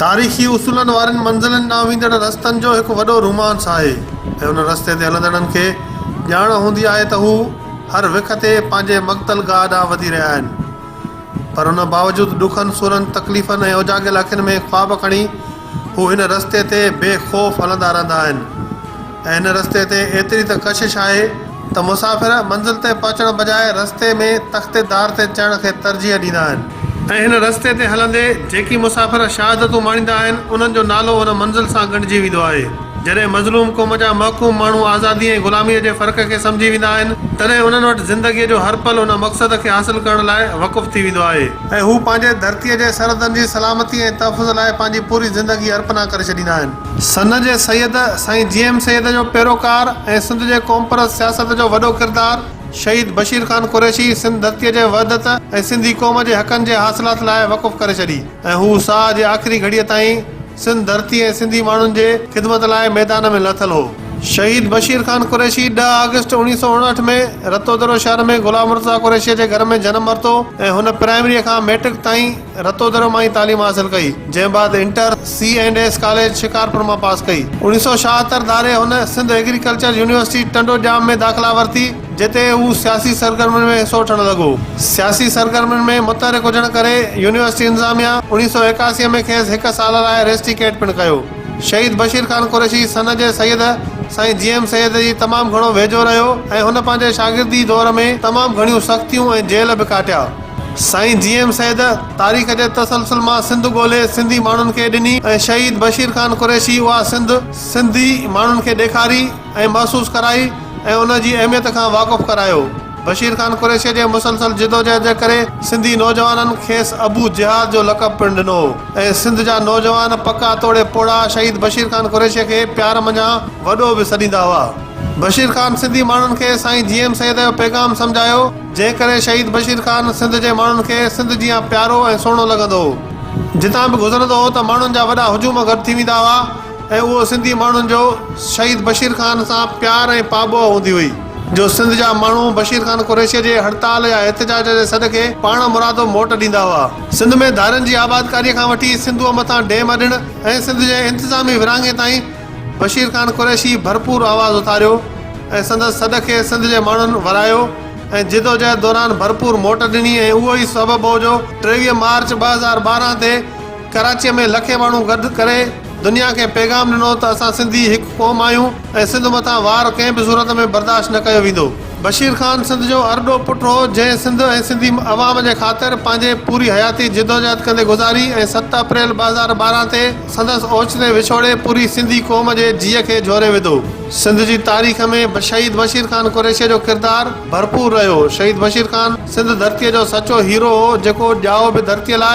تاريخي اصولن وارين منزلن ڏانهن ويندڙ رستن جو هڪ وڏو رومانس آهي ۽ ان رستي تي هلندڙن کي ڄاڻ هوندي آهي ته هو هر وک تي پنهنجي مقتل گاهه ڏانهن وڌي رهيا آهن پر ان باوجود ڏکن سورن تڪليفن ۽ اوجاڳيل اکين ۾ خواب کڻي هو هن رستي تي بي خوف هلندا رهندا آهن ۽ هن رستي تي ايتري ته ڪشش آهي ته مسافر منزل تي پهچڻ بجاء رستي ۾ تختي دار تي چڙهڻ کي ترجيح ڏيندا آهن. ۽ هن رستي تي هلندي جيڪي مسافر شهادتون ماڻيندا آهن انهن جو نالو هن منزل سان ڳنڍجي ويندو آهي. جڏهن مظلوم قوم جا محڪوم ماڻهو آزادي ۽ غلاميء جي فرق کي سمجهي ويندا آهن تڏهن انهن وٽ زندگيء جو هر پل ان مقصد کي حاصل ڪرڻ لاء وقف ٿي ويندو آهي. ۽ هو پنهنجي ڌرتيء جي سرحدن جي سلامتي ۽ تحفظ لاء پنهنجي پوري زندگي ارپنا ڪري ڇڏيندا آهن. سن جي سيد سائين جي ايم سيد جو پيروڪار ۽ سنڌ جي قومپرست سياست جو وڏو ڪردار شهيد بشير خان قريشي سنڌ ڌرتيء جي وحدت ۽ سنڌي قوم جي حقن جي حاصلات لاء وقف ڪري ڇڏي ۽ هو ساهه جي آخري گهڙيء تائين سنڌ ڌرتي ۽ سنڌي ماڻهن جي خدمت لاء ميدان ۾ لٿل هو. شهيد بشير خان قريشي ڏهه آگسٽ اوڻيهه سؤ اڻهٺ ۾ رتودرو شهر ۾ غلام مرتضيٰ قريشيء جي گهر ۾ جنم ورتو ۽ هن پرائمريء کان مئٽرڪ تائين رتودرو مان ئي تعليم حاصل ڪئي، جنهن بعد inter, C and S college Shikarpur مان پاس ڪئي. اوڻيهه سؤ ڇاهتر ڌاري هن سنڌ ايگريڪلچر يونيورسٽي ٽنڊو ڄام ۾ داخلا ورتي. جتي هو سياسي سرگرمين ۾ حصو وٺڻ لڳو. سياسي سرگرمين ۾ متحرڪ هجڻ ڪري يونيورسٽي انتظاميا اڻيهه سؤ ايڪاسي ۾ کيس هڪ سال لاء ريسٽيڪيٽ پڻ ڪيو. شهيد بشير خان قريشي سن جي سيد سائين جي ايم سيد جي تمام گهڻو ويجهو رهيو ۽ هن پنهنجي شاگردي دور ۾ تمام گهڻيون سختيون ۽ جيل به ڪاٽيا. سائين جي ايم سيد تاريخ جي تسلسل مان سنڌ ڳولهي سنڌي ماڻهن کي ڏني ۽ شهيد بشير خان قريشي اها سنڌ سنڌي ماڻهن کي ڏيکاري. ۽ محسوس ڪرائي ۽ ان جي اهميت کان واقف ڪرايو. بشير خان قريشيء جي مسلسل جدوجهد جي ڪري سنڌي نوجوانن کيس ابو جهاد جو لقب پڻ ڏنو هو ۽ سنڌ جا نوجوان پڪا توڙي پوڙها شهيد بشير خان قريشيء کي پيار منجهان وڏو به سڏيندا هئا. بشير خان سنڌي ماڻهن کي سائين جي ايم سيد جو پيغام سمجهايو، جنهن ڪري شهيد بشير خان سنڌ جي ماڻهن کي سنڌ جيان پيارو ۽ سهڻو لڳندو هو. جتان به گذرندو هو ته ماڻهن جا وڏا هجوم گڏ ٿي ويندا هئا. ۽ اهو سنڌي ماڻهن جو شهيد بشير خان سان پيار ۽ پاٻوهه هوندي هئي جو سنڌ جا ماڻهو بشير خان قريشيء جي هڙتال يا احتجاج جي سڏ کي پاڻ مرادو موٽ ڏيندا هئا. سنڌ ۾ ڌارين جي آبادڪاريء کان وٺي سنڌوء مٿان ڊيم اڏڻ ۽ سنڌ جي انتظامي ورهاڱي تائين بشير خان قريشي ڀرپور آواز اٿاريو ۽ سندس سڏ کي سنڌ جي ماڻهن ورايو ۽ جدوجهد دوران ڀرپور موٽ ڏني ۽ اهو ئي سبب هو جو ٽيويهه مارچ ٻه هزار ٻارهن تي ڪراچيء ۾ لکين ماڻهو گڏ ڪري دنيا کي پيغام ڏنو ته اسان سنڌي هڪ قوم آهيون ۽ سنڌ مٿان وار ڪنهن به صورت ۾ برداشت نه ڪيو ويندو. بشير خان سنڌ جو ارڏو پٽ هو، جنهن سنڌ ۽ سنڌي عوام جي خاطر پنهنجي پوري حياتي جدوجهد ڪندي گذاري ۽ ست اپريل ٻه هزار ٻارهن تي سندس اوچتي وڇوڙي پوري سنڌي قوم جي جيء کي جهوري وڌو. سنڌ جي تاريخ ۾ شهيد بشير خان قريشيء جو ڪردار ڀرپور رهيو. شهيد بشير خان سنڌ ڌرتيء جو سچو هيرو هو، جيڪو ڄائو به ڌرتيء لاء،